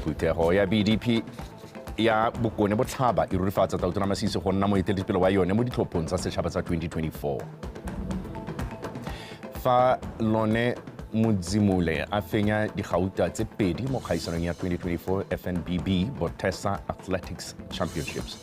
phuthego ya bdp ya bokone botlhaba e rurifatsa tautona masisi go nna moeteledipele wa yone mo ditlhophong tsa setšhaba tsa 2024 fa lone modzimule a fenya digauta tse pedi mo kgaisanong ya 2024 fnbb botesa athletics championships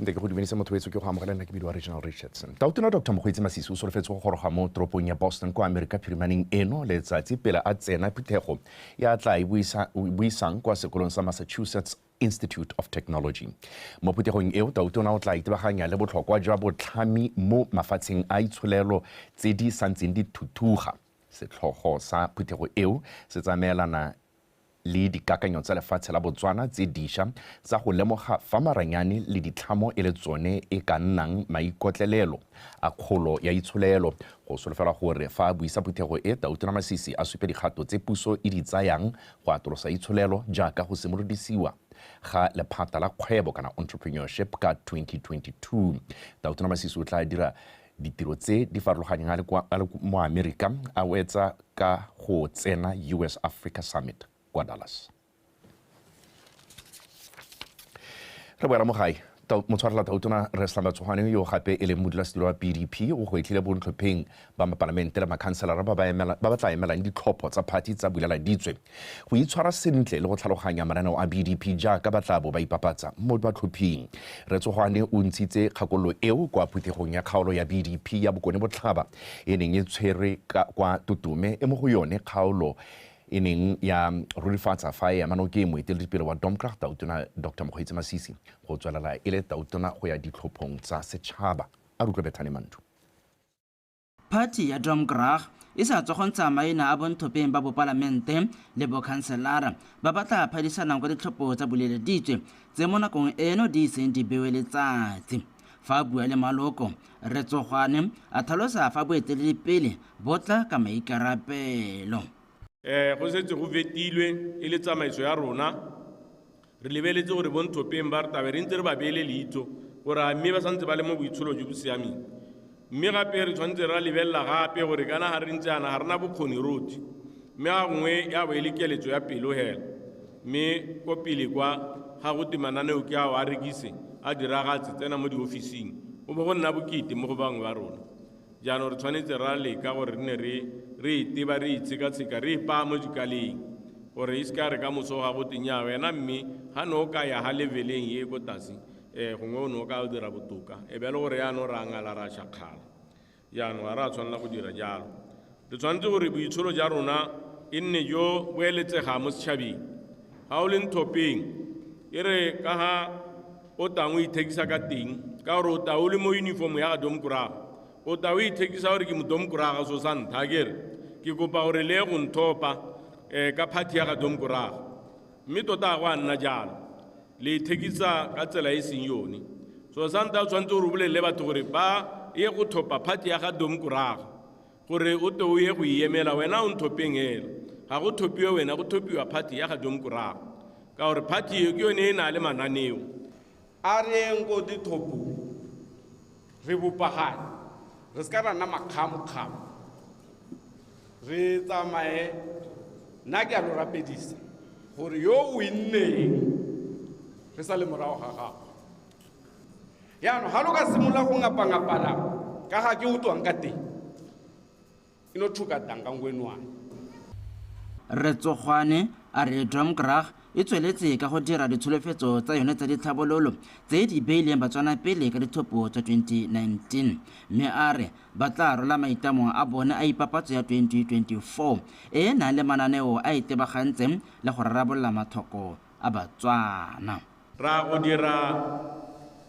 nte ke go dumelise motho wetso ke go amogela nna ke bidiwa regional richardson tautona dr mokgweetsi masisi o solofetse go goroga mo toropong ya boston kwa amerika phirimaneng eno letsatsi pele a tsena phuthego ya tla e buisang kwa sekolong sa massachusetts institute of technology mo phuthegong eo tautona o tla itebaganya le botlhokwa jwa botlhami mo mafatsheng a itsholelo tse di santseng di thuthuga setlhogo sa phuthego eo se tsamaelana le dikakanyo tsa lefatshe la Botswana tse disha tsa go lemoga fa maranyane le ditlhamo e le tsone e ka nnang maikotlelelo a kgolo ya itsholelo. Go solofelwa gore fa a buisa phuthego e, Tautona Masisi a supe dikgato tse puso e di tsayang go atolosa itsholelo jaaka go simolodisiwa ga lephata la kgwebo kana entrepreneurship ka 2022. Tautona Masisi o tla dira Ditiro tse di farologanyang a le kwa mo Amerika a wetsa ka go tsena US Africa Summit kwa Dallas. Re boela mo gae. Motshwarela Tautona Resla Matsogwane yo gape e leng modulasetilo wa PDP o gwetlhile bontlhopheng ba mapalamente le makhanselara ba ba tla emelang ditlhopho tsa phathi tsa Bulela Ditswe. go itshwara sentle le go tlhaloganya mananeo a BDP jaaka ba tla bo ba ipapatsa mo batlhophing. Retsogwane o ntshitse kgakololo eo kwa phuthegong ya kgaolo ya BDP ya Bokone Botlhaba e neng e tshwerwe kwa Tutume e mo go yone kgaolo e neng ya rurifatsa fa e ema nokeng moeteledipele wa Domkrag Tautona Dr Mokgweetsi Masisi go tswelela e le tautona go ya ditlhophong tsa setšhaba. A rutlwe Bethane Mandu. Phathi ya Drumgraag e sa tswa go ntsha maina a bonthopeng ba bopalamente le bokhanselara ba ba tla phadisanang kwa ditlhopho tsa boleleditswe tse mo nakong eno di iseng di bewe letsatsi. Fa a bua le maloko, Rre Tsogwane a tlhalosa fa boeteledipele bo tla ka maikarabelo. Go setse go fetilwe e le tsamaiso ya rona Re lebeletse gore bo Nthopeng ba re tabe re ntse re ba beele leitho gore a mme ba santse ba le mo boitsholo jo bo siameng. Mme gape re tshwanetse re ra lebelela gape gore kana ga re ntse yana ga rena bokgoni rotlhe. Mme ga gongwe ya bo e le keletso ya pelo hela. Mme ko pele kwa ga go te mananeo ke ao a rekise a diragatse tsena mo diofising go bo go nna bokete mo go bangwe ba rona. Jaanong re tshwanetse ra leka gore re ne re re iteba re itshekatsheka re ipaa mo dikaleng gore e seka re ka moso ga go tenya wena mme ga ne o ka ya ga leveleng e ko tase um gongwe o ne o ka o dira botoka e be le gore yaanong re angala ra shakgala jaanong ga re a tshwanela go dira jalo Re tshwanetse gore boitsholo ja rona e nne jo bo eletsega mo setšhabeng. Ga o le nthopeng, e re ka ga o tang o ithekisa ka teng, ka gore o ta o le mo uniform ya ga domkoraga, o ta o ithekisa gore ke modomkoraga so sa ntha kere ke kopa gore le ye go nthopa um ka phathi ya ga domkoraga mme tota ga go a nna jalo le ithekisa ka tsela e seng yone so sa ntha o tshwanetse gore o bolelele batho gore ba ye go thopa phathi ya ga domkoraga gore o te o ye go iemela wena o nthopeng hela ga go thopiwe wena go thopiwa party ya ga domkorago ka gore party eo ke yone e na le mananeo a reng ko dithopo re bopagane re se ka ra nna makgamokgamo re tsamaye nna ke a lo rapedisa gore yo o inneng re sa le morago ga gago yaanong ga lo ka simolola go ngapangapana ka ga ke o tswang ka teng e no thuka tang ka nko enwane Rre Tsogwane a re Drumgrag e tsweletse ka go dira ditsholofetso tsa yone tsa ditlhabololo tse di beileng Batswana pele ka ditlhopho tsa 2019 mme a re ba tla rola maitamo a bone a ipapatso ya 2024 e e nang le mananeo a itebagantseng le go rarabolola mathoko a Batswana. Ra go dira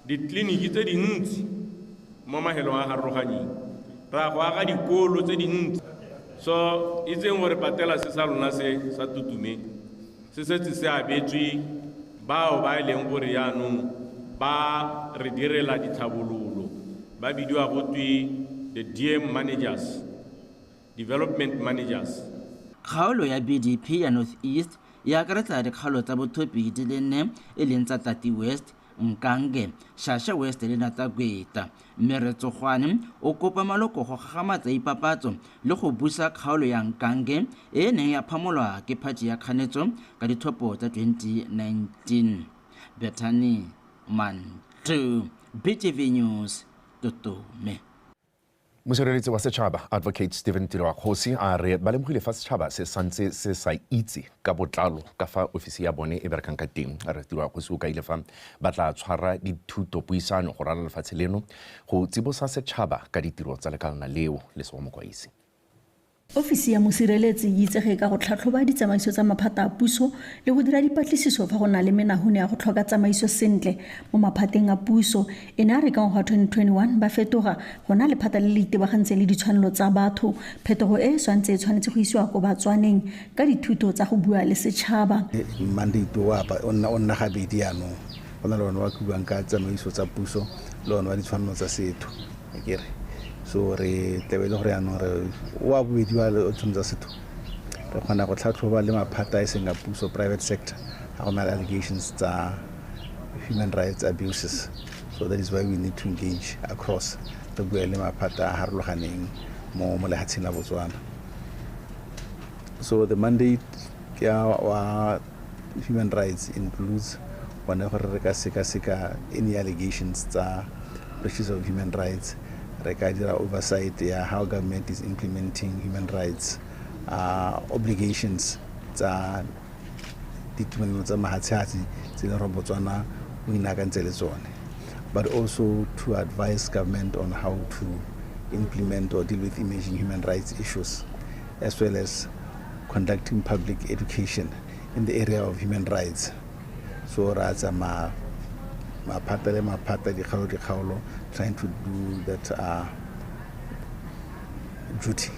ditleliniki tse dintsi mo mahelong a garoroganyeng, ra go aga dikolo tse dintsi. So itseng gore patelase sa lona se sa Tutume se setse se abetswe bao ba e leng gore jaanong ba re direla ditlhabololo, ba bidiwa go twe the DM managers. Development Managers. Kgaolo ya BDP ya North East e akaretsa dikgaolo tsa Bothopi di le nne e leng tsa Tati West, Nkange, Shasha West le Natagweta. Mme Rre Tsogwane o kopa maloko go gagamatsa ipapatso le go busa kgaolo ya Nkange e e neng ya phamolwa ke phathi ya kganetso ka dithopo tsa 2019. Bethany Mantle, BTV News, Totome. Mosireletsi wa setšhaba Advocate Stephen Tiroakgosi a re ba lemogile fa setšhaba se santse se sa itse ka botlalo ka fa ofisi ya bone e berekang ka teng. Re Tiroakgosi o kaile fa ba tla tshwara dithuto puisano go rala lefatshe leno go tsibosa setšhaba ka ditiro tsa lekalana leo, Lesogo Mokwaisi. Ofisi ya Mosireletsi e itsege ka go tlhatlhoba ditsamaiso tsa maphata a puso le go dira dipatlisiso fa go na le menahune ya go tlhoka tsamaiso sentle mo maphateng a puso. E ne ya re ka ngwaga wa 2021 ba fetoga go nna lephata le le itebagantseng le ditshwanelo tsa batho. Phetogo e e swantse e tshwanetse go isiwa ko batswaneng ka dithuto tsa go bua le setšhaba. Mandate o o nna o nna gabedi jaanong, go na le one o o buang ka tsamaiso tsa puso le one wa ditshwanelo tsa setho. akere so re tlabe e le gore yaanong re oa bobedi wa tshone tsa setho re kgona go tlhatlhoba le maphata e seng a puso private sector ga go na le allegations tsa human rights abuses so that is why we need to engage across re bue le maphata a harologaneng mo mo lehatsheng la botswana so the mandate ke wa human rights includes one gore re ka sekaseka any allegations tsa breaches of human rights re ka dira oversight ya how government is implementing human rights uh, obligations tsa ditumelelo tsa mahatshatsi tse leng gore botswana o inakantse le tsone but also to advise government on how to implement or deal with emerging human rights issues as well as conducting public education in the area of human rights so ra tsamaya maphata le maphata dikgaolo dikgaolo trying to do that uh, duty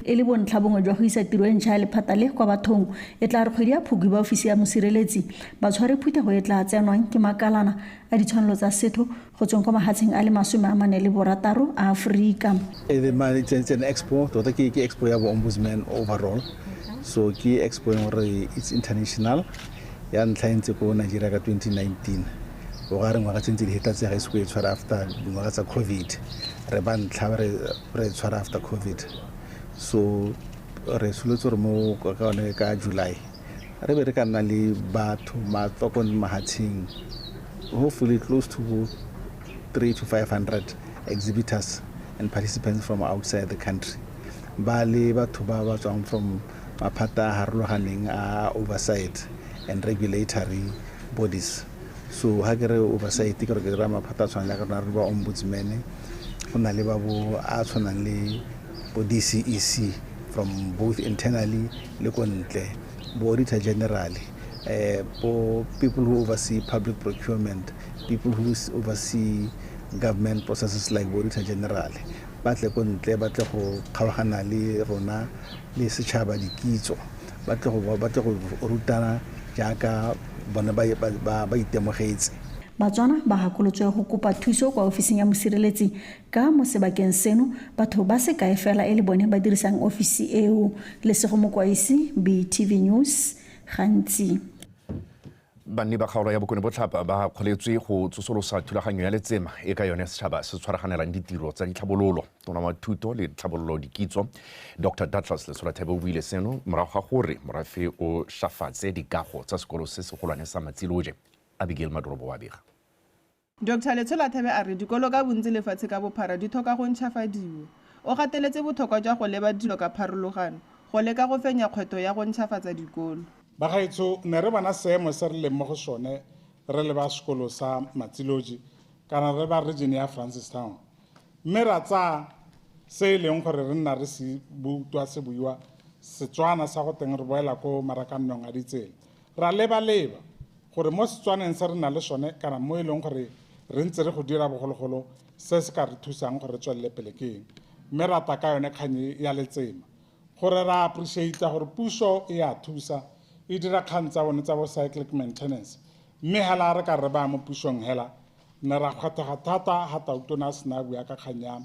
e le bontlha bongwe jwa go isa tiro e ntšha ya lephata le kwa bathong e tla re kgwedi ya phukwi ba ofisi ya mosireletsi ba tshware phuthego e tla tsenwang ke makalana a ditshwanelo tsa setho go tsweng kwa mahatsheng a le masome a mane le borataro a aforika expo tota ke expo ya bo-ombudsman overall so ke expo e gore it's international ya ntlha e ntse ko nigeria ka 2019 o ga re ngwaga tse ntse di heta tse ga iseko e tshwara after dingwaga tsa covid re ba ntlha re tshwara after covid so re soletse gore mo ka one ka july re be re ka nna le batho matsoko le mahatsheng hopefully close to 3 to 500 exhibitors and participants from outside the country ba le batho ba ba tswang from maphata a harologaneng a oversight and regulatory bodies so ha ke re oversight ke re ke dira maphata a tshwanang jaaka rona re ba ombudsman go na le ba bo a tshwanang le bo dcec from both internally le ko ntle bo auditor general eh, bo people who oversee public procurement people who oversee government processes like bo auditor general ba tle ko ntle ba tle go kgaogana le rona le setšhaba dikitso ba tle go rutana jaaka bone ba itemogetse batswana ba gakolotswe go kopa thuso kwa ofising ya mosireletsi Ka mo sebakeng seno, batho ba sekae fela e le bone ba dirisang ofisi eo. Lesego Mokwaisi, BTV News, Gantsi. Banni ba kgaolo ya Bokone Botlhaba ba kgoletswe go tsosolosa thulaganyo ya letsema e ka yone setšhaba se tshwaraganelang ditiro tsa ditlhabololo. Tona wa Thuto le Tlhabololo Dikitso, Doctor Douglas Lesolathebe o buile seno morago ga gore morafe o shafatse dikago tsa sekolo se segolwane sa Matsiloje. Abigail Madorobo wa bega. Doctor Letshola-Thebe a re dikolo ka bontsi lefatshe ka bophara di thoka go ntšhafadiwa. O gateletse bothokwa jwa go leba dilo ka pharologano go leka go fenya kgwetho ya go ntšhafatsa dikolo. Bagaetsho ne re bona seemo se re leng mo go sone re le ba sekolo sa Matsiloji kana re ba region ya Francistown mme ra tsaya se e leng gore re nna re se butwa se buiwa Setswana sa go teng re boela ko marakannong a ditsela Ra lebaleba gore mo Setswaneng se re nang le sone kana mo e leng gore re ntse re go dira bogologolo se se ka re thusang gore re tswelele pele ke eng. Mme ra tla ka yone kgang e ya letsema gore ra appreciate-a gore puso e a thusa e dira kgang tsa bone tsa bo cyclic maintenance. Mme hela re ka re baya mo pusong hela ne ra kgwathega thata ha Tautona a sena a bua ka kgang ya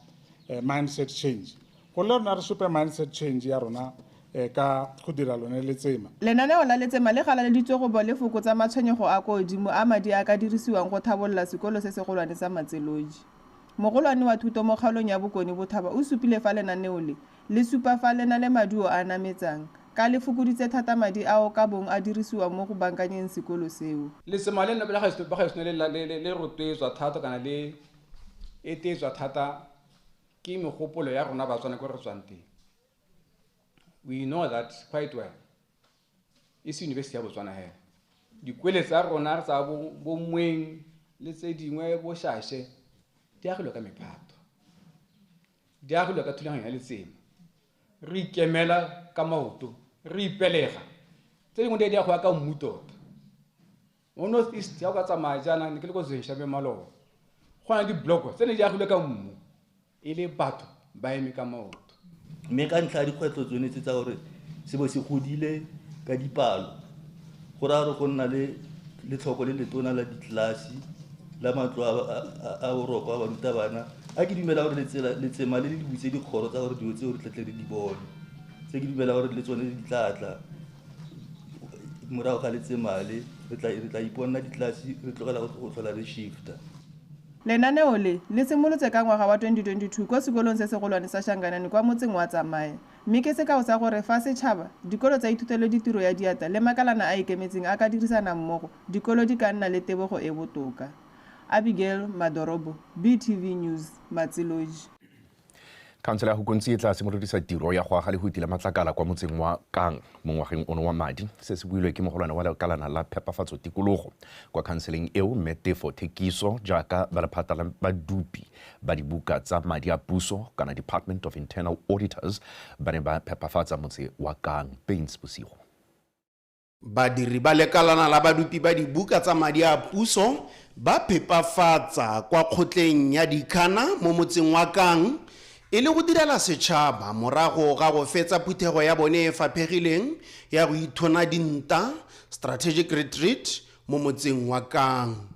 mindset change. Go le rona re supe mindset change ya rona eh, ka go dira lone letsema. Lenaneo la letsema le galaleditswe go bo le fokotsa matshwenyego a kwa godimo a madi a ka dirisiwang go thabolola sekolo se segolwane sa Matseloji. Mogolwane wa thuto mo kgaolong ya Bokone Bothaba o supile fa lenaneo le le supa fa le na le maduo a a nametsang ka le fokoditse thata madi ao ka bong a dirisiwang mo go bankanyeng sekolo seo. Letsema leno la gaetsho la gaetsho le la- le le- le rotloetswa thata kana le etetswa thata ke megopolo ya rona batswana ko re tswang teng we know that quite well e se university ya botswana hela dikwele tsa rona tsa bo- bomweng le tse dingwe boshashe di agilwe ka mephato di agilwe ka thulaganyo ya letsema re ikemela ka maoto re ipelega tse dingwe di a di a go ya ka mmu tota mo north east ya o ka tsamaya jaana ne ke le ko zenshabe maloba go na le dibloko tse ne di agilwe ka mmu e le batho ba eme ka maoto mme ka ntlha ya dikgwetlho tsone tse tsa gore se bo se godile ka dipalo go raya gore go nna le letlhoko le letona la ditlelase la matlo a boroko a barutabana a ke dumela gore letsema le le dibutse dikgoro tsa gore dilo tseo re tletle re di bone tse ke dumela gore le tsone di tlatla morago ga letsemale re tla re tla iponela ditlelase re tlogela go tlhola re shifta. Lenaneo le, le simolotse ka ngwaga wa 2022 ko sekolong se segolwane sa Shanganani kwa motseng wa Tsamaya, mme ke sekao sa gore fa setšhaba, dikolo tsa ithutelo ditiro ya diatla le makalana a ikemetseng a ka dirisana mmogo, dikolo di ka nna le tebogo e botoka. Abigail Madorobo, BTV News, Matsiloji. khansele ya gokontsi e tla simolodisa tiro ya go aga le go itila matlakala kwa motseng wa kang mo ngwageng ono wa madi se se builwe ke mogolwane wa lekalana la phepafatso tikologo kwa khanseleng eo mme tefo thekiso jaaka ba lephata la badupi ba dibuka tsa madi a puso kana department of internal auditors ba ne ba phepafatsa motse wa kang pains bosigo Badiri ba lekalana la badupi ba dibuka tsa madi a puso ba phepafatsa kwa kgotleng ya Dikhana mo motseng wa Kang e le go direla setšhaba morago ga go fetsa phuthego ya bone e faphegileng ya go ithona dinta, strategic retreat, mo motseng wa Kang.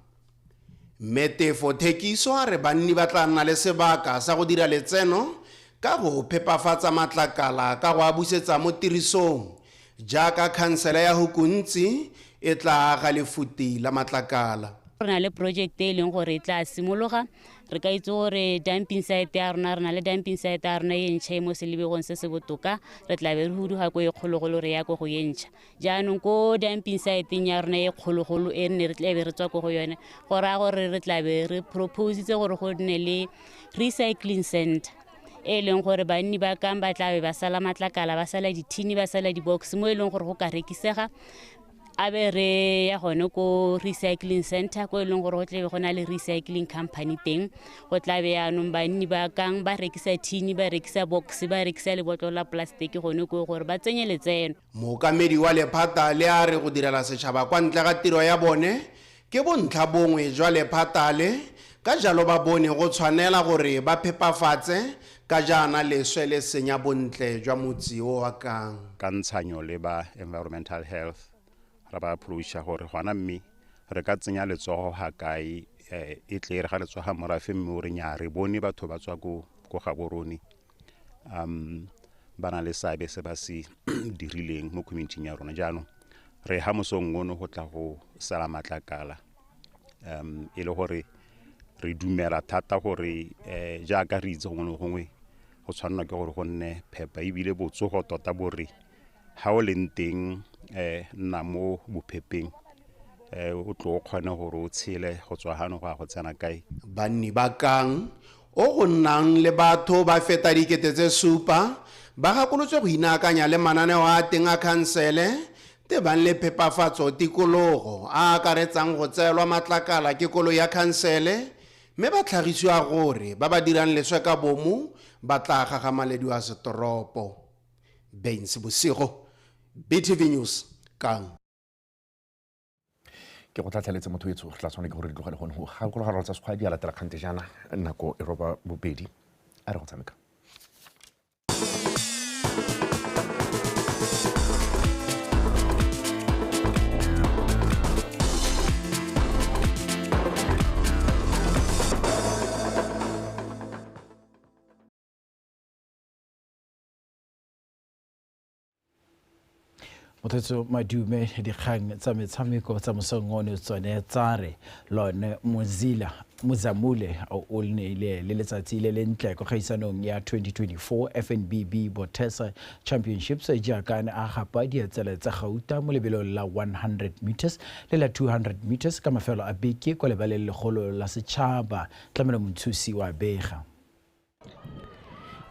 Mme Tefo Thekiso a re banni ba tla nna le sebaka sa go dira letseno ka go phepafatsa matlakala ka go a busetsa mo tirisong jaaka khansele ya Hukuntsi e tla aga lefuti la matlakala. Re na le porojekete e e leng gore e tla simologa, re ka itse gore dumping site ya rona, re na le dumping site ya rona e ntšha e mo Selebegong se se botoka, re tlabe re huduga ko e kgologolo re ya ko go e ntšha. jaanong ko dumping siteng ya rona e kgologolo e nne re tlabe re tswa ko go yone go raya gore re tlabe re propositse gore go nne le recycling center e e leng gore banni ba kang ba tlabe ba sala matlakala ba sala dithini ba sala di-box mo e leng gore go ka rekisega a be re ya gone ko recycling center ko e leng gore go tlabe go na le recycling company teng go tlabe yaanong banni ba kang ba rekisa thini ba rekisa box ba rekisa lebotlo la plastic gone ko gore ba tsenye letseno Mookamedi wa lephata le a re go direla setšhaba kwa ntle ga tiro ya bone ke bontlhabongwe jwa lephata le, ka jalo ba bone go tshwanela gore ba phepafatse ka jaana leswe le senya bontle jwa motsi o wa Kang. Ka ntshanyo le ba Environmental Health ra ba approacha gore gona mme re ka tsenya letsogo ga kae e tle re ga letsoga morafe mme o re nyaa re bone batho ba tswa ko Gaborone um ba na le seabe se ba se dirileng mo community ya rona jaanong re ha mosong ono go tla go sala matlakala um e le gore re dumela thata gore um jaaka re itse gongwe le gongwe go tshwanelwa ke gore go nne phepa ebile botsogo tota bo re ga o leng teng um nna mo bophepeng um o tlo o kgone gore o tshele go tswa gano go ya go tsena kae banni ba kang o go nnang le batho ba feta dikete tse supa ba gakolotswe go inaakanya le mananeo a teng a khansele tebang le phepafatso tikologo a akaretsang go tseelwa matlakala ke kolo ya khansele mme ba tlhagisiwa gore ba ba dirang leswe ka bomo ba tla gagamalediwa setoropo. baines bosigo btv news kang ke go tlhatlheletse motho etsho re tla tshwanela ke gore di tlogele gone go gakologaralo tsa sekgwa di a latela kgante jaana nako e roba bobedi a re go tshameka mothetso madume dikgang tsa metshameko tsa mosong one tsone tsa re lone mozila mozamule o neile le letsatsi le lentle kwa kgaisanong ya 2024 fnbb botesa championships jaaka ne a gapa dietsele tsa gauta mo lebelong la 100 meters le la 200 meters ka mafelo a beke kwa lebaleng legolo la setšhaba tlamelo montshusi wa bega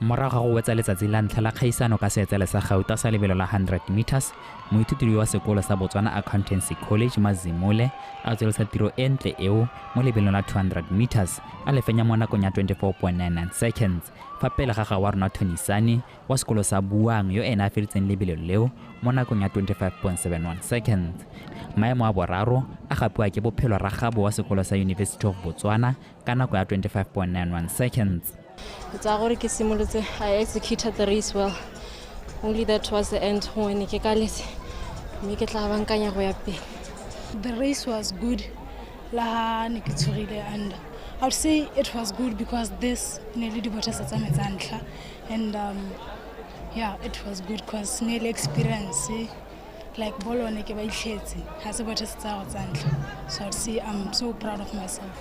Morago ga go wetsa letsatsi la ntlha la kgaisano ka seetsele sa gauta sa lebelo la 100 metres, moithuti yo wa sekolo sa Botswana Accountancy College, Mazimule, a tswelisa tiro e ntle eo mo lebelong la 200 metres, a le fenya mo nakong ya 24.99 seconds, fa pele ga ga wa rona Tony Sane wa sekolo sa Buang yo ene a feditseng lebelo leo mo nakong ya 25.71 seconds. Maemo a boraro a gapiwa ke Bophelo Ragabo wa sekolo sa University of Botswana, ka nako ya 25.91 seconds ke tsaya gore ke simolotse i executed the race well only that was the end gongwe ne ke kaletse mme ke tla bankanya go ya pele the race was good la ha ne ke tshogile and i would say it was good because this ne le dibotasa tsa me tsa ntlha and um, yeah it was good because ne le experience like bolo one ke ba itlhetse ga se bothe se tsaya go tsa ntlha so I'd say I'm so proud of myself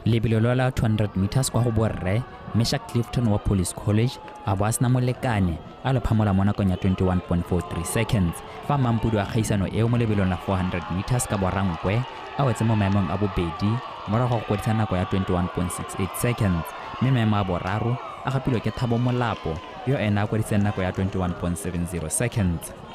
lebelo lwa la 200 meters kwa go borre mesha clifton wa police college a bo a sena molekane a lo phamola mo nakong ya 21.43 seconds fa mampudu a kgaisano eo mo lebelong la 400 meters ka borankwe a wetse mo maemong a bobedi morago go kwadisa nako ya 21.68 seconds mme maemo a boraro a gapilwe ke thabo molapo yo ena a kwadiseng nako ya 21.70 seconds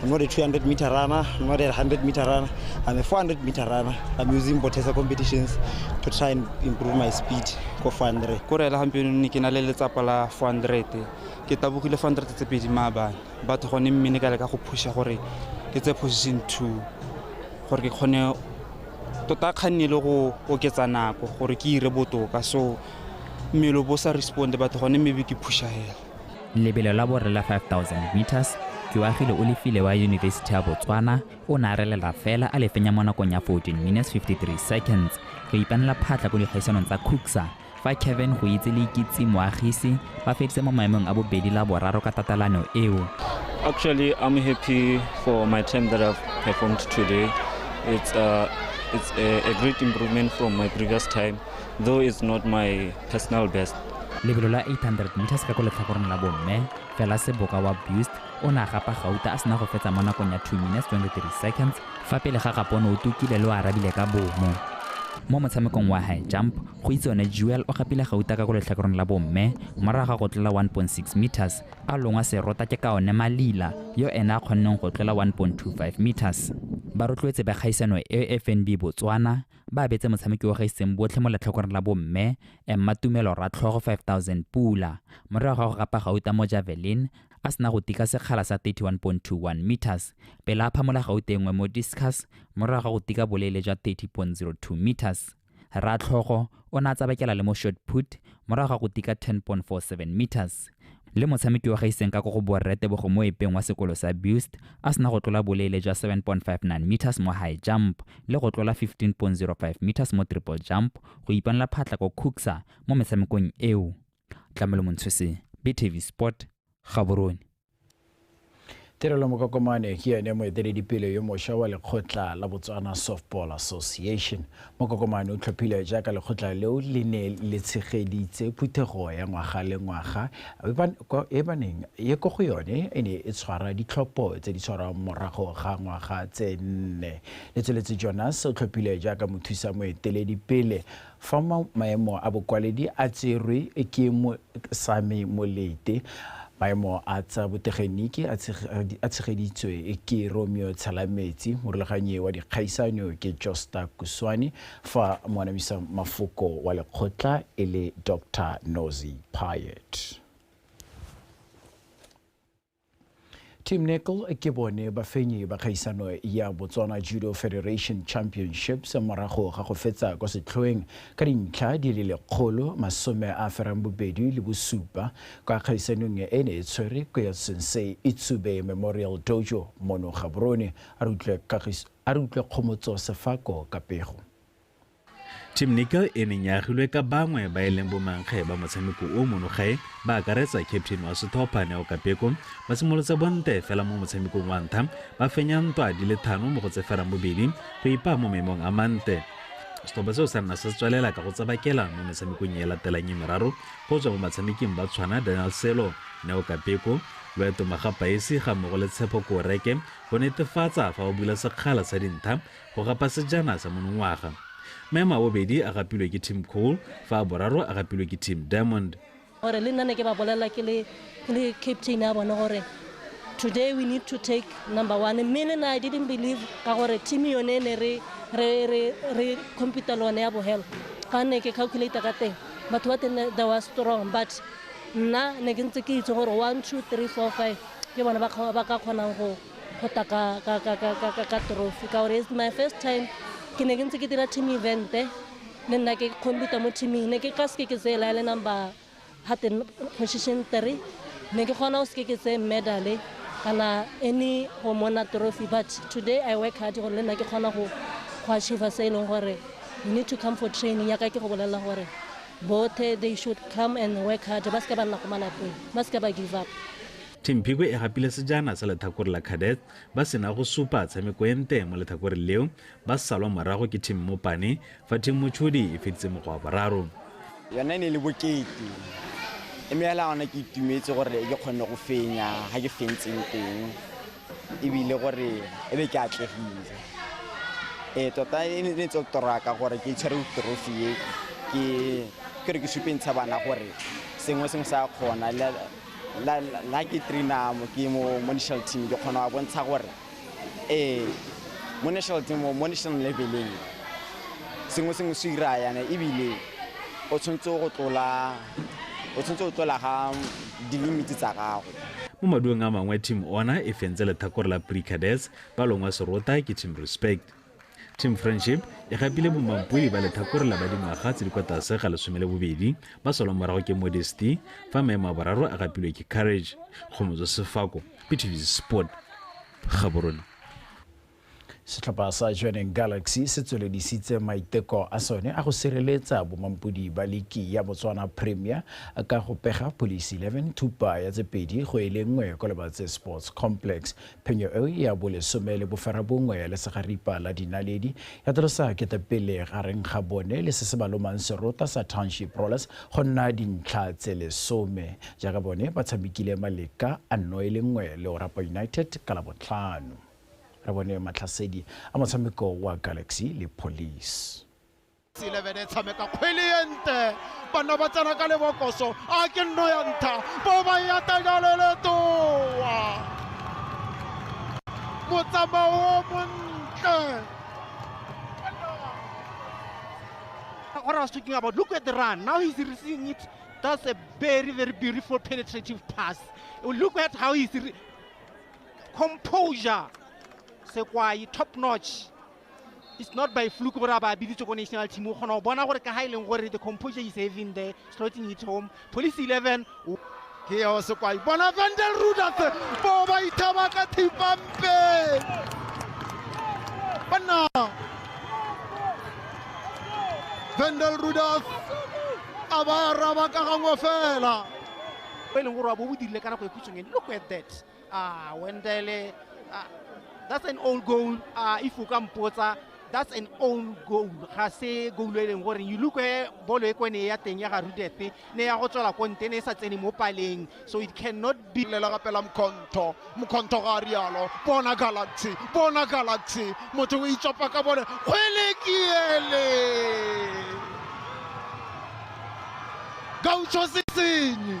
I'm not a 200 meter runner, I'm not a 100 meter runner, I'm a 400 meter runner. I'm using Botesa competitions to try and improve my speed ko 400. Ko rela gompieno ne ke na le letsapa la 400. Ke tabogile 400 tse pedi maabane. Batho gone mme ne ka leka go pusha gore ke tse position 2 gore ke kgone tota kganne le go oketsa nako gore ke ire botoka so mmele bo sa respond batho gone maybe ke pusha hela Lebelo la borre la 5000 metres, Keoagile o lefile wa Yunibesiti ya Botswana o ne a relela fela a le fenya mo nakong ya 14 minutes 53 seconds go ipanela phatlha ko dikgaisanong tsa CUCSA fa Kevin Goitse le Ikitse Moagise ba feditse mo maemong a bobedi la boraro ka tatelano eo. Actually, I'm happy for my time that I've performed today. It's, uh, it's a, a great improvement from my previous time. though it's not my personal best. Lebelo la 800 meters ka ko letlhakoreng la bomme, Fela Seboka wa Buist o ne a gapa gauta a sena go fetsa mo nakong ya 2 minutes 23 seconds fa pele ga gapo o ne o tukile le o arabile ka bomo. Mo motshamekong wa high jump, go itse one Jewel o gapile gauta ka ko letlhakoreng la bomme morago ga go tlola 1.6 meters a longwa serota ke ka one Malila yo ene a kgonneng go tlola 1.25 meters. Ba rotloetse ba kgaisano e FNB Botswana ba abetse motshameki wa gaiseng botlhe mo letlhokoreng la bomme emma tumelo ratlhogo 5000 pula morago ga go gapa gauta mo javelin a sena go tika sekgala sa 31.21 meters pele a phamola gauta engwe mo discus morago ga go tika boleele jwa 30.02 meters ratlhogo o ne a tsabakela le mo short put morago ga go tika 10.47 meters le motshameki wa gaiseng ka ko go boretebogo mo epeng wa sekolo sa bust a sena go tlola boleele jwa 7.59 meters mo high jump le go tlola 15.05 meters mo triple jump go ipanela phatla ko cooksa mo metshamekong eo tlamelo montshose btv sport gaborone Tirelo Mokokomane ke yone moeteledipele yo mosha wa lekgotla la Botswana Softball Association. Mokokomane o tlhophile jaaka lekgotla leo le ne le tshegeditse phuthego ya ngwaga le ngwaga e baneng ye ko go yone e ne e tshwara ditlhopho tse di tshwarwang morago ga ngwaga tse nne. Letsweletse Jonas o tlhophile jaaka mothusa moeteledipele Fa maemo a bokwaledi a tserwe ke Mosami Molete, maemo a tsa botegeniki a tshegeditswe ke Romeo Tshelametsi, morulaganyi wa dikgaisano ke Josta Kuswani fa moanamisa mafoko wa lekgotla e le Doctor Nozi Payet. Tim Nicol ke bone bafenyi ba kgaisano ya Botswana Judo Federation Championships morago ga go fetsa kwa setlhoeng ka dintlha di le lekgolo masome a ferang bobedi le bosupa kwa kgaisanong e ne e tshwere ko ya Sensei Itsube Memorial Dojo mono Gaborone. A re utlwe kgomotso sefako ka pego. Tim Nicol e neng ya agilwe ka bangwe ba e leng bomankge ba motshameko o mono gae ba akaretsa captain wa setlhopha Neo Kapeko ba simolotse bonte fela mo motshamekong wa ntlha ba fenya ntwa di le thano mo go tse ferang bobedi go ipaa mo maemong a mantle. Setlhopha seo sa nna se tswelela ka go tsabakela mo metshamekong e latelang e meraro go tswa mo batshameking ba tshwana Daniel Selo, Neo Kapeko, Loeto Magapaesi ga mmogo le Tshepo Koreke go netefatsa fa ba bula sekgala sa dintha Go gapa sejana sa monongwaga. Maemo a bobedi a gapilwe ke Team Coal fa a boraro a gapilwe ke Team Diamond. Gore le nna ne ke ba bolelela ke le ke le captain ya bone gore today we need to take number one mme le nna I didn't believe ka gore team yone e ne re re re re compete le one ya bohelo ka ne ke calculator ka teng batho ba teng they were strong but nna ne ke ntse ke itse gore one two three four five ke bone ba ka kgonang go go tla ka trophy ka gore it's my first time ke ne ke ntse ke dira team evente le nna ke computer mo teaming ne ke ka seke ke tseye laele number hate position three ne ke kgona go seke ke tseye medale kana any go mona trophy but today i work hard gore le nna ke kgona go achieve se e leng gore you need to come for training yaka ke go bolelela gore bothe they should come and work hard ba seke ba nna go malapeng ba seke ba give up Thimphikwe e gapile sejana sa letlhakore la Cadets ba sena go supa tshameko e nte mo letlhakoreng leo ba salwa morago ke Team Mopane fa Team Motshodi e feditse mokgwa wa boraro. Yona e ne e le bokete mme fela gona ke itumetse gore ke kgonne go fenya ga ke fentseng teng ebile gore e be ke atlegile. Ee, tota e ne tse toraka gore ke tshwere trophy e ke ke re ke supentsha bana gore sengwe sengwe sa kgona nna ke trainer mo ke mo mo national team ke kgona wa bontsha gore ee mo national team mo national leveleng sengwe sengwe se ira yana ebile o tshwanetse go tlola o tshwanetse go tlola ga dilimiti tsa gago mo maduong a mangwe team ona e fentse letlhakore la pre cadets ba longwa serota ke team respect Team Friendship e gapile bomampodi ba letlhakore la ba dingwaga tse di kwa tlase ga lesome le bobedi ba salwang morago ke Modesty fa maemo a boraro a gapilwe ke Courage. Kgomotso Sefako, BTV Sport, Gaborone. Setlhopha sa Jwaneng Galaxy se tsweledisitse maiteko a sone a go sireletsa bomampodi ba liki ya Botswana Premier ka go pega Police 11 thupa ya tse pedi go e le nngwe kwa Lebatse Sports Complex. Phenyo eo ya bolesome le boferabongwe ya lesegaripa la dinaledi ya tlolosa ketepele gareng ga bone le se se ba lomang serota sa Township Rollers go nna dintlha tse lesome jaaka bone ba tshamekile maleka a nno e le nngwe le Orapa United ka Labotlhano. Re bone matlhasedi a motshameko wa Galaxy le Police. 11 e tshameka kgwele e nte banna ba tsena ka lebokoso a ke nno ya ntha bo ba ya tajaleletoa motsamao o montle what I was talking about. Look at the run. Now he's receiving it. That's a very, very beautiful penetrative pass. Look at how he's composure. Sekwai, top notch. it's not by fluke gore a ba biditse ko national team o kgona go bona gore ka ga e leng gore the composure is having there slotting it home police 11 ke yao sekwai bona vandel rudas bo ba ithaba ka thipampe banna vandel rudas a ba araba ka gangwe fela e leng gore wa bo bo dirile ka nako e khutshweng ene look at that Ah, Wendele, ah, that's an own goal. Ah, if you can put that, that's an own goal. Ga se goal e leng gore you look where bolo e kwene ya teng ya ga Rudefe ne ya go tswela ko nte ne e sa tsene mo paleng so it cannot be lela ka pela mkhonto mkhonto ga rialo bona galaxy bona galaxy motho o itsopa ka bone kgwele ke ele gaucho sesenyi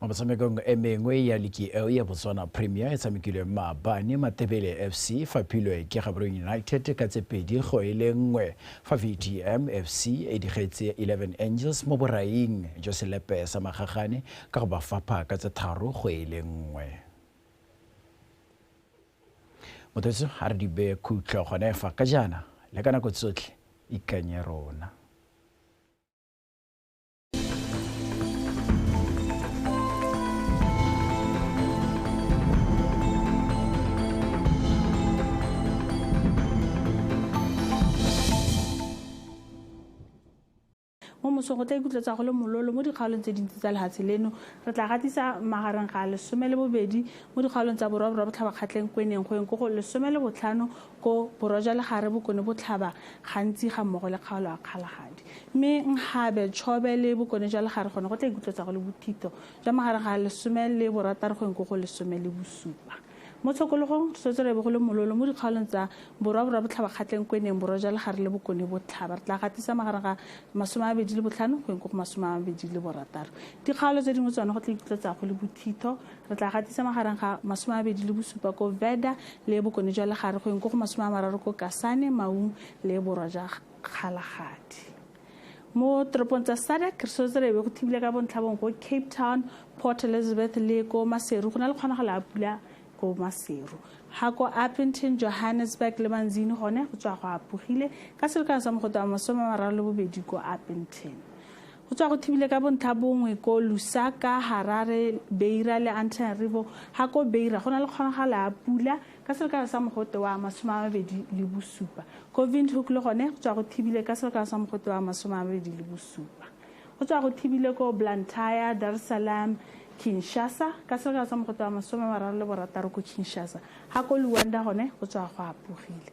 mo metshamekong e mengwe ya liki eo ya botswana premier e tshamekilwe maabane matebele fc fa philwe ke gaboreng united ka tse pedi go e le nngwe fa vtm fc e digetse 11 angels mo boraing jo selepe sa magagane ka go ba fapha ka tse tharo go e le nngwe mothetso a re dibe khutlo gone fa ka jaana le ka nako tsotlhe ikanye rona mo mosong go tla ikutlwa tsa go le mololo mo dikgaolong tse dintsi tsa lehatshe leno re tla gatisa magareng ga lesome le bobedi mo dikgaolong tsa borwa borwa botlhabakgatleng kweneng go eng ko go lesome le botlhano ko Borwa jwa Legare Bokone Botlhaba gantsi ga mmogo le kgaolo a Kgalagadi. Mme Nkgabe, Chobe le Bokone jwa Legare gone go tla ikutlwetsa go le bothito jwa magareng ga lesome le borataro go eng ko go lesome le bosupa. Mo tshokologong, re swetse re ebe go le mololo mo dikgaolong tsa Borwa Borwa Botlhaba kgatleng ko e neng Borwa jwa Legare le Bokone Botlhaba. Re tla gatisa magareng ga masome a mabedi le botlhano go eng ko go masome a mabedi le borataro. Dikgaolo tse dingwe tsone go tla ikutlwetsa go le bothito Re tla gatisa magareng ga masome a bedi le bosupa ko Veda le bokone jwa legare go eng ko go masome a mararo ko Kasane, Maung le borwa jwa Kgalagadi. Mo toropong tsa SADC re sotse re ebe go thibile ka bontlhabong ko Cape Town, Port Elizabeth le ko Maseru go na le kgonagalo a pula ko Maseru. Ha ko Appington, Johannesburg le Manzini gone go tswa go apogile ka selekano sa mogote wa masome a mararo le bobedi ko Appington. Go tswa go thibile ka bontlhabongwe ko Lusaka, Harare, Beira le Antananarivo ha ko Beira go na le kgonagalo ya pula ka selekano sa mogote wa masome a mabedi le bosupa. Ko Windhoek le gone go tswa go thibile ka selekano sa mogote wa masome a mabedi le bosupa. Go tswa go thibile ko Blantyre, Dar es Salaam, Kinshasa ka selekano sa mogote wa masome a mararo le borataro ko Kinshasa. Ha ko Luanda gone go tswa go apogile.